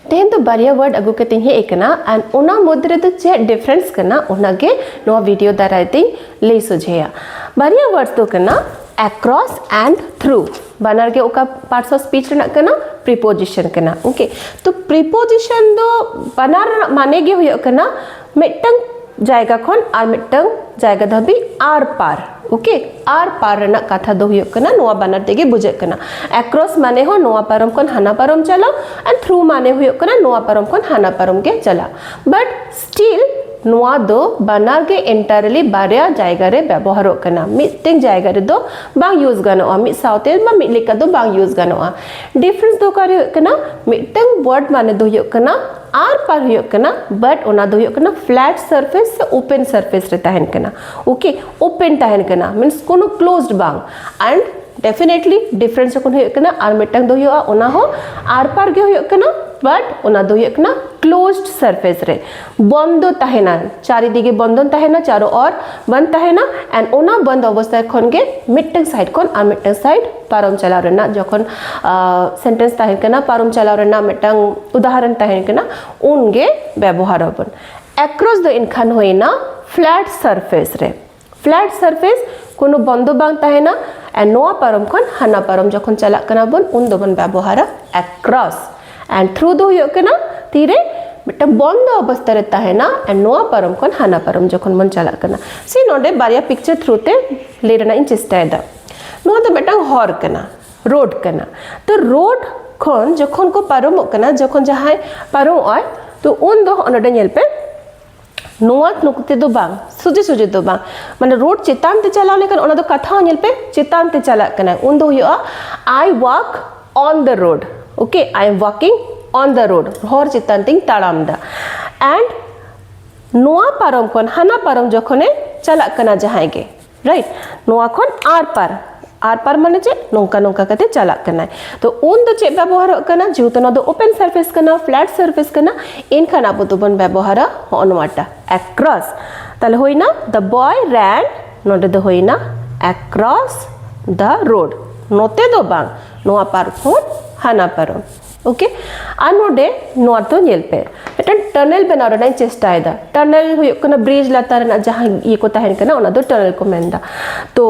ᱛᱮᱦᱮᱧ ᱫᱚ ᱵᱟᱨᱭᱟ ᱣᱟᱨᱰ ᱟᱹᱜᱩ ᱠᱟᱛᱮᱧ ᱦᱮᱡ ᱟᱠᱟᱱᱟ ᱟᱨ ᱚᱱᱟ ᱢᱚᱫᱽᱫᱷᱮ ᱨᱮᱫᱚ ᱪᱮᱫ ᱰᱤᱯᱷᱟᱨᱮᱱᱥ ᱠᱟᱱᱟ ᱚᱱᱟᱜᱮ ᱱᱚᱣᱟ ᱵᱷᱤᱰᱤᱭᱳ ᱫᱟᱨᱟᱭ ᱛᱮᱧ ᱞᱟᱹᱭ ᱥᱚᱡᱷᱮᱭᱟ ᱵᱟᱨᱭᱟ ᱣᱟᱨᱰ ᱫᱚ ᱠᱟᱱᱟ across and through ᱵᱟᱱᱟᱨ ᱜᱮ ᱚᱠᱟ ᱯᱟᱨᱴᱥ ᱚᱯᱷ ᱥᱯᱤᱪ ᱨᱮᱱᱟᱜ ᱠᱟᱱᱟ ᱯᱨᱤᱯᱳᱡᱤᱥᱚᱱ ᱠᱟᱱᱟ ᱳᱠᱮ ᱛᱚ ᱯᱨᱤᱯᱳᱡᱤᱥᱚᱱ ᱫᱚ ᱵᱟᱱᱟᱨ ᱨᱮᱱᱟᱜ ᱢᱟᱱᱮ ᱜᱮ ᱦᱩᱭᱩᱜ ᱠᱟᱱᱟ ᱢᱤᱫᱴᱟᱝ ᱡᱟᱭᱜᱟ ᱠᱷᱚᱱ ᱟᱨ ᱢᱤᱫᱴᱟᱝ ᱡᱟᱭᱜᱟ ᱫᱷᱟᱹᱵᱤᱡ ᱟᱨ ᱯᱟᱨ ᱳᱠᱮ ᱟᱨ ᱯᱟᱨ ᱨᱮᱱᱟᱜ ᱠᱟᱛᱷᱟ ᱫᱚ ᱦᱩᱭᱩᱜ ᱠᱟᱱᱟ ᱱᱚᱣᱟ ᱵᱟᱱᱟᱨ ᱛᱮᱜᱮ ᱵᱩᱡᱷᱟᱹᱜ ᱠᱟᱱᱟ ᱮᱠᱨᱚᱥ ᱢᱟᱱᱮ ᱦᱚᱸ ᱱᱚᱣᱟ ᱯᱟᱨᱚᱢ ᱠᱷᱚᱱ ᱦᱟᱱᱟ ᱯᱟᱨᱚᱢ ᱪᱟᱞᱟᱣ ᱟᱨ ᱛᱷᱨᱩ ᱢᱟᱱᱮ ᱦᱩᱭᱩᱜ ᱠᱟᱱᱟ ᱱᱚᱣᱟ ᱯᱟᱨᱚᱢ ᱠᱷᱚᱱ ᱦᱟᱱᱟ ᱯᱟᱨᱚᱢ ᱜᱮ ᱪᱟᱞᱟᱣ ᱵᱟᱴ ᱥᱴᱤᱞ ᱱᱚᱣᱟ ᱫᱚ ᱵᱟᱱᱟᱨ ᱜᱮ ᱮᱱᱴᱟᱨᱞᱤ ᱵᱟᱨᱭᱟ ᱡᱟᱭᱜᱟ ᱨᱮ ᱵᱮᱵᱚᱦᱟᱨᱚᱜ ᱠᱟᱱᱟ ᱢᱤᱫᱴᱮᱱ ᱡᱟᱭᱜᱟ ᱨᱮᱫᱚ ᱵᱟᱝ ᱭᱩᱡᱽ ᱜᱟᱱᱚᱜᱼᱟ ᱢᱤᱫ ᱥᱟᱶᱛᱮ ᱵᱟ ᱢᱤᱫ ᱞᱮᱠᱟ ᱫᱚ ᱵᱟᱝ ᱭᱩᱡᱽ ᱜᱟᱱᱚᱜᱼᱟ ᱰᱤᱯᱷᱟᱨᱮᱱᱥ ᱫᱚ ᱚᱠᱟᱨᱮ ᱦᱩᱭᱩᱜ ᱠᱟᱱᱟ ᱢᱤᱫᱴᱟᱝ ᱣᱟᱨᱰ ᱢᱟᱱᱮ ᱫᱚ ᱦᱩᱭᱩᱜ ᱠᱟᱱᱟ ᱟᱨ ᱯᱟᱨ ᱦᱩᱭᱩᱜ ᱠᱟᱱᱟ ᱵᱟᱴ ᱚᱱᱟ ᱫᱚ ᱦᱩᱭᱩᱜ ᱠᱟᱱᱟ ᱯᱷᱞᱮᱴ ᱥᱟᱨᱯᱷᱮᱥ ᱥᱮ ᱳᱯᱮᱱ ᱥᱟᱨᱯᱷᱮᱥ ᱨᱮ ᱛᱟᱦᱮᱱ ᱠᱟᱱᱟ ᱳᱠᱮ ᱳᱯᱮᱱ ᱛᱟᱦᱮᱱ ᱠᱟᱱᱟ ᱢᱤᱱᱥ ᱠᱳᱱᱳ ᱠᱞᱳᱡᱽᱰ ᱵᱟᱝ ᱟᱨ ᱰᱮᱯᱷᱤᱱᱮᱴᱞᱤ ᱰᱤᱯᱷᱟᱨᱮᱱᱥ ᱡᱚᱠᱷᱚᱱ ᱦᱩᱭᱩᱜ ᱠᱟᱱᱟ ᱟᱨ ᱢᱤᱫᱴᱟᱝ ᱫᱚ ᱦᱩᱭᱩᱜᱼᱟ ᱚᱱᱟ ᱦᱚᱸ ᱟᱨ ᱯᱟᱨ ᱜᱮ ᱦᱩᱭᱩᱜ ᱠᱟᱱᱟ ᱵᱟᱴ ᱚᱱᱟ ᱫᱚ ᱦᱩᱭᱩᱜ ᱠᱟᱱᱟ ᱠᱞᱳᱡᱽᱰ ᱥᱟᱨᱯᱷᱮᱥ ᱨᱮ ᱵᱚᱱᱫᱚ ᱛᱟᱦᱮᱱᱟ ᱪᱟᱨᱤᱫᱤᱜᱮ ᱵᱚᱱᱫᱚᱱ ᱛᱟᱦᱮᱱᱟ ᱪᱟᱨᱚ ᱚᱨ ᱵᱚᱱᱫ ᱛᱟᱦᱮᱱᱟ ᱮᱱᱰ ᱚᱱᱟ ᱵᱚᱱᱫ ᱚᱵᱚᱥᱛᱟ ᱠᱷᱚᱱ ᱜᱮ ᱢᱤᱫᱴᱟᱝ ᱥᱟᱭᱤᱰ ᱠᱷᱚᱱ ᱟᱨ ᱢᱤᱫᱴᱟᱝ ᱥᱟᱭᱤᱰ ᱯᱟᱨᱚᱢ ᱪᱟᱞᱟᱣ ᱨᱮᱱᱟᱜ ᱡᱚᱠᱷᱚᱱ ᱥᱮᱱᱴᱮᱱᱥ ᱛᱟᱦᱮᱱ ᱠᱟᱱᱟ ᱯᱟᱨᱚᱢ ᱪᱟᱞᱟᱣ ᱨᱮᱱᱟᱜ ᱢᱤᱫᱴᱟᱝ ᱩᱫᱟᱦᱚᱨᱚᱱ ᱛᱟᱦᱮᱱ ᱠᱟᱱᱟ ᱩᱱ ᱜᱮ ᱵᱮᱵᱚᱦᱟᱨ ᱟᱵᱚᱱ ᱮᱠᱨᱚᱥ ᱫᱚ ᱮᱱᱠᱷᱟᱱ ᱦᱩᱭᱱᱟ ᱯᱷᱞᱮᱴ ᱥᱟᱨᱯᱷᱮᱥ ᱨᱮ ᱯᱷᱞᱮᱴ ᱥᱟᱨᱯᱷᱮᱥ ᱠᱳᱱᱳ ᱵᱚᱱᱫᱚ ᱵᱟᱝ ᱛᱟᱦᱮᱱᱟ ᱮᱱᱰ ᱱᱚᱣᱟ ᱯᱟᱨᱚᱢ ᱠᱷᱚᱱ ᱦᱟᱱᱟ ᱯᱟᱨᱚᱢ ᱡᱚᱠᱷᱚᱱ ᱪᱟᱞᱟᱜ ᱠᱟᱱᱟ ᱵᱚᱱ ᱩᱱ ᱫᱚᱵᱚᱱ ᱵᱮᱵᱚᱦᱟᱨᱟ ᱮᱠᱨᱚᱥ ᱮᱱᱰ ᱛᱷᱨᱩ ᱫᱚ ᱦᱩᱭᱩᱜ ᱠᱟᱱᱟ ᱛᱤᱨᱮ ᱢᱤᱫᱴᱟᱝ ᱵᱚᱱᱫᱚ ᱚᱵᱚᱥᱛᱟ ᱨᱮ ᱛᱟᱦᱮᱱᱟ ᱮᱱᱰ ᱱᱚᱣᱟ ᱯᱟᱨᱚᱢ ᱠᱷᱚᱱ ᱦᱟᱱᱟ ᱯᱟᱨᱚᱢ ᱡᱚᱠᱷᱚᱱ ᱵᱚᱱ ᱪᱟᱞᱟᱜ ᱠᱟᱱᱟ ᱥᱮ ᱱᱚᱰᱮ ᱵᱟᱨᱭᱟ ᱯᱤᱠᱪᱟᱨ ᱛᱷᱨᱩ ᱛᱮ ᱞᱟᱹᱭ ᱨᱮᱱᱟᱜ ᱤᱧ ᱪᱮᱥᱴᱟᱭᱮᱫᱟ ᱱᱚᱣᱟ ᱫᱚ ᱢᱤᱫᱴᱟᱝ ᱦᱚᱨ ᱠᱟᱱᱟ ᱨᱳᱰ ᱠᱟᱱᱟ ᱛᱚ ᱨᱳᱰ ᱠᱷᱚᱱ ᱡᱚᱠᱷᱚᱱ ᱠᱚ ᱯᱟᱨᱚᱢᱚᱜ ᱠᱟᱱᱟ ᱡᱚᱠᱷᱚᱱ ᱡᱟᱦᱟᱸᱭ ᱯᱟᱨᱚᱢᱚᱜᱼᱟᱭ ᱛᱚ ᱩᱱ ᱫᱚ ᱦᱚᱸᱜᱼᱚ ᱱᱚᱰᱮ ᱧᱮᱞ ᱯᱮ ᱱᱚᱣᱟ ᱱᱚᱛᱮ ᱫᱚ ᱵᱟᱝ ᱥᱚᱡᱷᱮ ᱥᱚᱡᱷᱮ ᱫᱚ ᱵᱟᱝ ᱢᱟᱱᱮ ᱨᱳᱰ ᱪᱮᱛᱟᱱ ᱛᱮ ᱪᱟᱞᱟᱣ ᱞᱮᱠᱷᱟᱱ ᱚᱱᱟ ᱫᱚ ᱠᱟᱛᱷᱟ ᱦᱚᱸ ᱧᱮᱞ ᱯᱮ ᱪᱮᱛᱟᱱ ᱛᱮ ᱪᱟᱞᱟᱜ ᱠᱟᱱᱟ ᱩᱱ ᱫᱚ ᱦᱩᱭᱩᱜᱼᱟ I walk on the road okay I am walking on the road ᱦᱚᱨ ᱪᱮᱛᱟᱱ ᱛᱮᱧ ᱛᱟᱲᱟᱢ ᱫᱟ ᱮᱱᱰ ᱱᱚᱣᱟ ᱯᱟᱨᱚᱢ ᱠᱷᱚᱱ ᱦᱟᱱᱟ ᱯᱟᱨᱚᱢ ᱡᱚᱠᱷᱚᱱᱮ ᱪᱟᱞᱟᱜ ᱠᱟᱱᱟ ᱡᱟᱦᱟᱸᱭ ᱜᱮ ᱨᱟᱭᱤᱴ ᱱᱚᱣᱟ ᱠᱷᱚᱱ ᱟᱨ ᱯᱟᱨ ᱟᱨ ᱯᱟᱨ ᱢᱟᱱᱮ ᱪᱮᱫ ᱱᱚᱝᱠᱟ ᱱᱚᱝᱠᱟ ᱠᱟᱛᱮ ᱪᱟᱞᱟᱜ ᱠᱟᱱᱟᱭ ᱛᱚ ᱩᱱ ᱫᱚ ᱪᱮᱫ ᱵᱮᱵᱚᱦᱟᱨᱚᱜ ᱠᱟᱱᱟ ᱡᱮᱦᱮᱛᱩ ᱱᱚᱣᱟ ᱫᱚ ᱳᱯᱮᱱ ᱥᱟᱨᱯᱷᱮᱥ ᱠᱟᱱᱟ ᱯᱷᱞᱮᱴ ᱥᱟᱨᱯᱷᱮᱥ ᱠᱟᱱᱟ ᱮᱱᱠᱷᱟᱱ ᱟᱵᱚ ᱫᱚᱵᱚᱱ ᱵᱮᱵᱚᱦᱟᱨᱟ ᱦᱚᱸᱜᱼᱚ ᱱᱚᱣᱟᱴᱟ ᱮᱠᱨᱚᱥ ᱛᱟᱦᱞᱮ ᱦᱩᱭᱱᱟ ᱫᱟ ᱵᱚᱭ ᱨᱮᱱ ᱱᱚᱰᱮ ᱫᱚ ᱦᱩᱭᱱᱟ ᱮᱠᱨᱚᱥ ᱫᱟ ᱨᱳᱰ ᱱᱚᱛᱮ ᱫᱚ ᱵᱟᱝ ᱱᱚᱣᱟ ᱯᱟᱨᱠᱷᱚᱱ ᱦᱟᱱᱟ ᱯᱟᱨᱚᱢ ᱳᱠᱮ ᱟᱨ ᱱᱚᱰᱮ ᱱᱚᱣᱟ ᱛᱚ ᱧᱮᱞ ᱯᱮ ᱢᱤᱫᱴᱟᱝ ᱴᱟᱱᱮᱞ ᱵᱮᱱᱟᱣ ᱨᱮᱱᱟᱜ ᱤᱧ ᱪᱮᱥᱴᱟᱭᱮᱫᱟ ᱴᱟᱱᱮᱞ ᱦᱩᱭᱩᱜ ᱠᱟᱱᱟ ᱵᱨᱤᱡᱽ ᱞᱟᱛᱟᱨ ᱨᱮᱱᱟᱜ ᱡᱟᱦᱟᱸ ᱤᱭᱟᱹ ᱠᱚ ᱛᱟᱦᱮᱱ ᱠᱟᱱᱟ ᱚᱱᱟ ᱫᱚ ᱴᱟᱱᱮᱞ ᱠᱚ ᱢᱮᱱᱫᱟ ᱛᱚ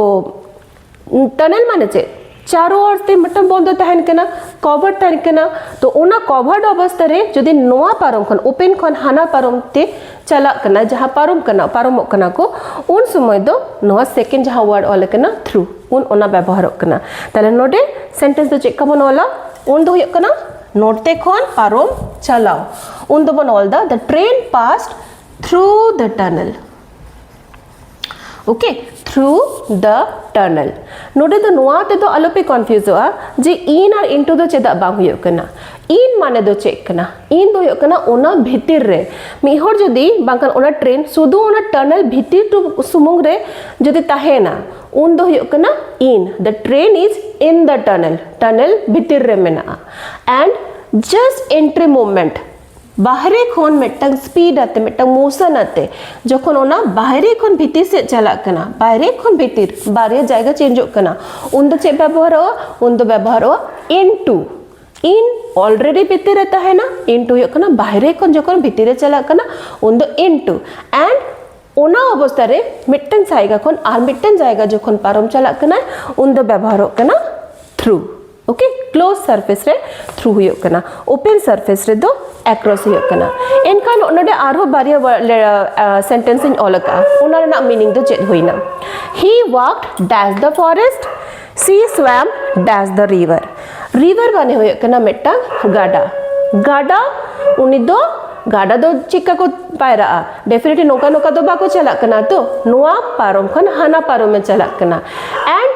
ᱴᱟᱱᱮᱞ ᱢᱟᱱᱮ ᱪᱮᱫ ᱪᱟᱨᱳ ᱚᱨ ᱛᱮ ᱢᱤᱫᱴᱟᱝ ᱵᱚᱱᱫᱚ ᱛᱟᱦᱮᱱ ᱠᱟᱱᱟ ᱠᱚᱵᱷᱟᱨ ᱛᱟᱦᱮᱱ ᱠᱟᱱᱟ ᱛᱚ ᱚᱱᱟ ᱠᱚᱵᱷᱟᱨᱰ ᱚᱵᱚᱥᱛᱟ ᱨᱮ ᱡᱩᱫᱤ ᱱᱚᱣᱟ ᱯᱟᱨᱚᱢ ᱠᱷᱚᱱ ᱳᱯᱮᱱ ᱠᱷᱚᱱ ᱦᱟᱱᱟ ᱯᱟᱨᱚᱢ ᱛᱮ ᱪᱟᱞᱟᱜ ᱠᱟᱱᱟ ᱡᱟᱦᱟᱸ ᱯᱟᱨᱚᱢ ᱠᱟᱱᱟ ᱯᱟᱨᱚᱢᱚᱜ ᱠᱟᱱᱟ ᱠᱚ ᱩᱱ ᱥᱚᱢᱚᱭ ᱫᱚ ᱱᱚᱣᱟ ᱥᱮᱠᱮᱱᱰ ᱡᱟᱦᱟᱸ ᱣᱟᱨᱰ ᱚᱞ ᱠᱟᱱᱟ ᱛᱷᱨᱩ ᱩᱱ ᱚᱱᱟ ᱵᱮᱵᱚᱦᱟᱨᱚᱜ ᱠᱟᱱᱟ ᱛᱟᱦᱞᱮ ᱱᱚᱰᱮ ᱥᱮᱱᱴᱮᱱᱥ ᱫᱚ ᱪᱮᱫ ᱠᱟᱵᱚᱱ ᱚᱞᱟ ᱩᱱ ᱫᱚ ᱦᱩᱭᱩᱜ ᱠᱟᱱᱟ ᱱᱚᱰᱛᱮ ᱠᱷᱚᱱ ᱯᱟᱨᱚᱢ ᱪᱟᱞᱟᱣ ᱩᱱ ᱫᱚᱵᱚᱱ ᱚᱞ the the train passed through the tunnel okay through the tunnel ᱱᱚᱰᱮ ᱫᱚ ᱱᱚᱣᱟ ᱛᱮᱫᱚ ᱟᱞᱚᱯᱮ ᱠᱚᱱᱯᱷᱤᱭᱩᱡᱚᱜᱼᱟ ᱡᱮ ᱤᱱ ᱟᱨ ᱤᱱᱴᱩ ᱫᱚ ᱪᱮᱫᱟᱜ ᱵᱟᱝ ᱦᱩᱭᱩᱜ ᱠᱟᱱᱟ ᱤᱱ ᱢᱟᱱᱮ ᱫᱚ ᱪᱮᱫ ᱠᱟᱱᱟ ᱤᱱ ᱫᱚ ᱦᱩᱭᱩᱜ ᱠᱟᱱᱟ ᱚᱱᱟ ᱵᱷᱤᱛᱤᱨ ᱨᱮ ᱢᱤᱫ ᱦᱚᱲ ᱡᱩᱫᱤ ᱵᱟᱝᱠᱷᱟᱱ ᱚᱱᱟ ᱴᱨᱮᱱ ᱥᱩᱫᱷᱩ ᱚᱱᱟ ᱴᱟᱱᱮᱞ ᱵᱷᱤᱛᱤᱨ ᱥᱩᱢᱩᱝ ᱨᱮ ᱡᱩᱫᱤ ᱛᱟᱦᱮᱱᱟ ᱩᱱ ᱫᱚ ᱦᱩᱭᱩᱜ ᱠᱟᱱᱟ in the train is in the tunnel tunnel ᱵᱷᱤᱛᱤᱨ ᱨᱮ ᱢᱮᱱᱟᱜᱼᱟ and just entry movement ᱵᱟᱦᱨᱮ ᱠᱷᱚᱱ ᱢᱤᱫᱴᱟᱝ ᱥᱯᱤᱰ ᱟᱛᱮ ᱢᱤᱫᱴᱟᱝ ᱢᱳᱥᱚᱱ ᱟᱛᱮ ᱡᱚᱠᱷᱚᱱ ᱚᱱᱟ ᱵᱟᱦᱨᱮ ᱠᱷᱚᱱ ᱵᱷᱤᱛᱤᱨ ᱥᱮᱫ ᱪᱟᱞᱟᱜ ᱠᱟᱱᱟ ᱵᱟᱦᱨᱮ ᱠᱷᱚᱱ ᱵᱷᱤᱛᱤᱨ ᱵᱟᱨᱭᱟ ᱡᱟᱭᱜᱟ ᱪᱮᱧᱡᱚᱜ ᱠᱟᱱᱟ ᱩᱱ ᱫᱚ ᱪᱮᱫ ᱵᱮᱵᱚᱦᱟᱨᱚᱜᱼᱟ ᱩᱱ ᱫᱚ ᱵᱮᱵᱚᱦᱟᱨᱚᱜᱼᱟ into in already ᱵᱷᱤᱛᱤᱨ ᱨᱮ ᱛᱟᱦᱮᱱᱟ into ᱦᱩᱭᱩᱜ ᱠᱟᱱᱟ ᱵᱟᱦᱨᱮ ᱠᱷᱚᱱ ᱡᱚᱠᱷᱚᱱ ᱵᱷᱤᱛᱤᱨ ᱨᱮ ᱪᱟᱞᱟᱜ ᱠᱟᱱᱟ ᱩᱱ ᱫᱚ into and ᱚᱱᱟ ᱚᱵᱚᱥᱛᱟ ᱨᱮ ᱢᱤᱫᱴᱟᱝ ᱡᱟᱭᱜᱟ ᱠᱷᱚᱱ ᱟᱨ ᱢᱤᱫᱴᱟᱝ ᱡᱟᱭᱜᱟ ᱡᱚᱠᱷᱚᱱ ᱯᱟᱨᱚᱢ ᱪᱟᱞᱟᱜ ᱠᱟᱱᱟ ᱩᱱ ᱫᱚ ᱵᱮᱵᱚᱦᱟᱨᱚᱜ ᱠᱟᱱᱟ ᱛᱷᱨᱩ ᱳᱠᱮ ᱠᱞᱳᱡᱽ ᱥᱟᱨᱯᱷᱮᱥ ᱨᱮ ᱛᱷᱨᱩ ᱦᱩᱭᱩᱜ ᱠᱟᱱᱟ ᱳᱯᱮᱱ ᱥᱟᱨᱯᱷᱮᱥ ᱨᱮᱫᱚ ᱮᱠᱨᱚᱥ ᱦᱩᱭᱩᱜ ᱠᱟᱱᱟ ᱮᱱᱠᱷᱟᱱ ᱱᱚᱰᱮ ᱟᱨᱦᱚᱸ ᱵᱟᱨᱭᱟ ᱥᱮᱱᱴᱮᱱᱥ ᱤᱧ ᱚᱞ ᱟᱠᱟᱫᱼᱟ ᱚᱱᱟ ᱨᱮᱱᱟᱜ ᱢᱤᱱᱤᱝ ᱫᱚ ᱪᱮᱫ ᱦᱩᱭᱱᱟ ᱦᱤ ᱣᱟᱠᱰ ᱰᱮᱥ ᱫᱟ ᱯᱷᱚᱨᱮᱥᱴ ᱥᱤ ᱥᱣᱟᱢ ᱰᱮᱥ ᱫ ᱨᱤᱵᱷᱟᱨ ᱨᱤᱵᱷᱟᱨ ᱢᱟᱱᱮ ᱦᱩᱭᱩᱜ ᱠᱟᱱᱟ ᱢᱤᱫᱴᱟᱝ ᱜᱟᱰᱟ ᱜᱟᱰᱟ ᱩᱱᱤ ᱫᱚ ᱜᱟᱰᱟ ᱫᱚ ᱪᱮᱫᱠᱟ ᱠᱚ ᱯᱟᱭᱨᱟᱜᱼᱟ ᱰᱮᱯᱷᱤᱱᱮᱴᱞᱤ ᱱᱚᱝᱠᱟ ᱱᱚᱝᱠᱟ ᱫᱚ ᱵᱟᱠᱚ ᱪᱟᱞᱟᱜ ᱠᱟᱱᱟ ᱛᱚ ᱱᱚᱣᱟ ᱯᱟᱨᱚᱢ ᱠᱷᱚᱱ ᱦᱟᱱᱟ ᱯᱟᱨᱚᱢᱮ ᱪᱟᱞᱟᱜ ᱠᱟᱱᱟ ᱮᱱᱰ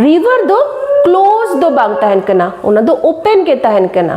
ᱨᱤᱵᱷᱟᱨ ᱫᱚ ᱠᱞᱳᱡᱽ ᱫᱚ ᱵᱟᱝ ᱛᱟᱦᱮᱱ ᱠᱟᱱᱟ ᱚᱱᱟ ᱫᱚ ᱳᱯᱮᱱ ᱜᱮ ᱛᱟᱦᱮᱱ ᱠᱟᱱᱟ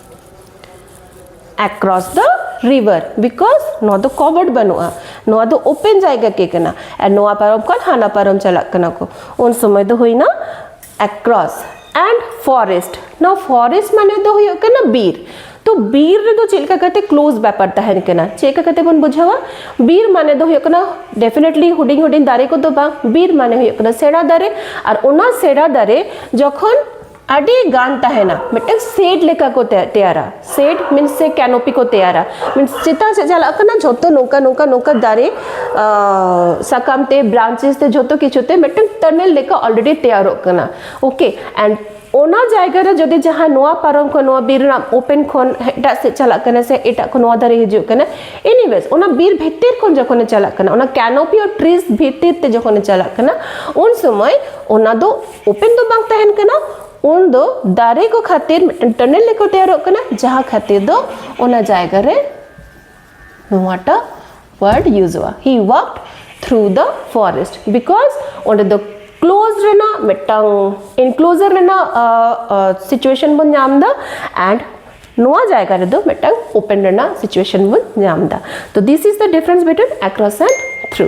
across the river because ᱱᱚᱣᱟ ᱫᱚ covered ᱵᱟᱹᱱᱩᱜᱼᱟ ᱱᱚᱣᱟ ᱫᱚ open ᱡᱟᱭᱜᱟ ᱜᱮ ᱠᱟᱱᱟ ᱟᱨ ᱱᱚᱣᱟ ᱯᱟᱨᱚᱢ ᱠᱷᱚᱱ ᱦᱟᱱᱟ ᱯᱟᱨᱚᱢ ᱪᱟᱞᱟᱜ ᱠᱟᱱᱟ ᱠᱚ ᱩᱱ ᱥᱚᱢᱚᱭ ᱫᱚ ᱦᱩᱭᱱᱟ across and forest now forest ᱢᱟᱱᱮ ᱫᱚ ᱦᱩᱭᱩᱜ ᱠᱟᱱᱟ ᱵᱤᱨ ᱛᱚ ᱵᱤᱨ ᱨᱮᱫᱚ ᱪᱮᱫ ᱞᱮᱠᱟ ᱠᱟᱛᱮ ᱠᱞᱳᱡ ᱵᱮᱯᱟᱨ ᱛᱟᱦᱮᱱ ᱠᱟᱱᱟ ᱪᱮᱫ ᱞᱮᱠᱟ ᱠᱟᱛᱮ ᱵᱚᱱ ᱵᱩᱡᱷᱟᱹᱣᱟ ᱵᱤᱨ ᱢᱟᱱᱮ ᱫᱚ ᱦᱩᱭᱩᱜ ᱠᱟᱱᱟ ᱰᱮᱯᱷᱤᱱᱮᱴᱞᱤ ᱦᱩᱰᱤᱧ ᱦᱩᱰᱤᱧ ᱫᱟᱨᱮ ᱠᱚᱫᱚ ᱵᱟᱝ ᱵᱤᱨ ᱢᱟᱱᱮ ᱦᱩᱭᱩᱜ ᱠᱟᱱᱟ ᱥᱮᱬᱟ ᱫᱟᱨᱮ ᱟᱨ ᱚᱱᱟ ᱥᱮᱬᱟ ᱫᱟᱨᱮ ᱡᱚᱠᱷᱚᱱ ᱟᱹᱰᱤ ᱜᱟᱱ ᱛᱟᱦᱮᱱᱟ ᱢᱤᱫᱴᱟᱝ ᱥᱮᱰ ᱞᱮᱠᱟ ᱠᱚ ᱛᱮᱭᱟᱨᱟ ᱥᱮᱰ ᱢᱤᱱᱥ ᱥᱮ ᱠᱮᱱᱳᱯᱤ ᱠᱚ ᱛᱮᱭᱟᱨᱟ ᱢᱤᱱᱥ ᱪᱮᱛᱟᱱ ᱥᱮᱫ ᱪᱟᱞᱟᱜ ᱠᱟᱱᱟ ᱡᱷᱚᱛᱚ ᱱᱚᱝᱠᱟ ᱱᱚᱝᱠᱟ ᱱᱚᱝᱠᱟ ᱫᱟᱨᱮ ᱥᱟᱠᱟᱢ ᱛᱮ ᱵᱨᱟᱱᱪᱮᱥ ᱛᱮ ᱡᱷᱚᱛᱚ ᱠᱤᱪᱷᱩ ᱛᱮ ᱢᱤᱫᱴᱟᱝ ᱴᱟᱱᱮᱞ ᱞᱮᱠᱟ ᱚᱞᱨᱮᱰᱤ ᱛᱮᱭᱟᱨᱚᱜ ᱠᱟᱱᱟ ᱳᱠᱮ ᱮᱱᱰ ᱚᱱᱟ ᱡᱟᱭᱜᱟ ᱨᱮ ᱡᱩᱫᱤ ᱡᱟᱦᱟᱸ ᱱᱚᱣᱟ ᱯᱟᱨᱚᱢ ᱠᱷᱚᱱ ᱱᱚᱣᱟ ᱵᱤᱨ ᱨᱮᱱᱟᱜ ᱳᱯᱮᱱ ᱠᱷᱚᱱ ᱮᱴᱟᱜ ᱥᱮᱫ ᱪᱟᱞᱟᱜ ᱠᱟᱱᱟ ᱥᱮ ᱮᱴᱟᱜ ᱠᱷᱚᱱ ᱱᱚᱣᱟ ᱫᱟᱨᱮ ᱦᱤᱡᱩᱜ ᱠᱟᱱᱟ ᱮᱱᱤᱣᱮᱡ ᱚᱱᱟ ᱵᱤᱨ ᱵᱷᱤᱛᱤᱨ ᱠᱷᱚᱱ ᱡᱚᱠᱷᱚᱱᱮ ᱪᱟᱞᱟᱜ ᱠᱟᱱᱟ ᱚᱱᱟ ᱠᱮᱱᱳᱯᱤ ᱚᱨ ᱴᱨᱤᱡ ᱵᱷᱤᱛᱤᱨ ᱛᱮ ᱡᱚᱠᱷᱚᱱᱮ ᱪᱟᱞᱟᱜ ᱠᱟᱱᱟ ᱩᱱ ᱥᱚᱢᱚᱭ ᱚᱱᱟ ᱫᱚ ᱳᱯᱮᱱ ᱫᱚ ᱵᱟᱝ ᱛᱟᱦᱮᱱ ᱠᱟᱱᱟ ᱩᱱ ᱫᱚ ᱫᱟᱨᱮ ᱠᱚ ᱠᱷᱟᱹᱛᱤᱨ ᱢᱤᱫᱴᱮᱱ ᱴᱟᱱᱮᱞ ᱞᱮᱠᱟ ᱛᱮᱭᱟᱨᱚᱜ ᱠᱟᱱᱟ ᱡᱟᱦᱟᱸ ᱠᱷᱟᱹᱛᱤᱨ ᱫᱚ ᱚᱱᱟ ᱡᱟᱭᱜᱟ ᱨᱮ ᱱᱚᱣᱟᱴᱟᱜ ᱣᱟᱨᱰ ᱭᱩᱡᱚᱜᱼᱟ ᱦᱤ ᱣᱟᱠᱰ ᱛᱷᱨᱩ ᱫᱚ ᱯᱷᱚᱨᱮᱥᱴ ᱵᱤᱠᱚᱡᱽ ᱚᱸᱰᱮ ᱫᱚ ᱠᱞᱳᱡᱽ ᱨᱮᱱᱟᱜ ᱢᱤᱫᱴᱟᱝ ᱤᱱᱠᱞᱳᱡᱟᱨ ᱨᱮᱱᱟᱜ ᱥᱤᱪᱩᱭᱮᱥᱚᱱ ᱵᱚᱱ ᱧᱟᱢ ᱮᱫᱟ ᱮᱱᱰ ᱱᱚᱣᱟ ᱡᱟᱭᱜᱟ ᱨᱮᱫᱚ ᱢᱤᱫᱴᱟᱝ ᱳᱯᱮᱱ ᱨᱮᱱᱟᱜ ᱥᱤᱪᱩᱭᱮᱥᱚᱱ ᱵᱚᱱ ᱧᱟᱢ ᱮᱫᱟ ᱛᱚ this is the difference between across and through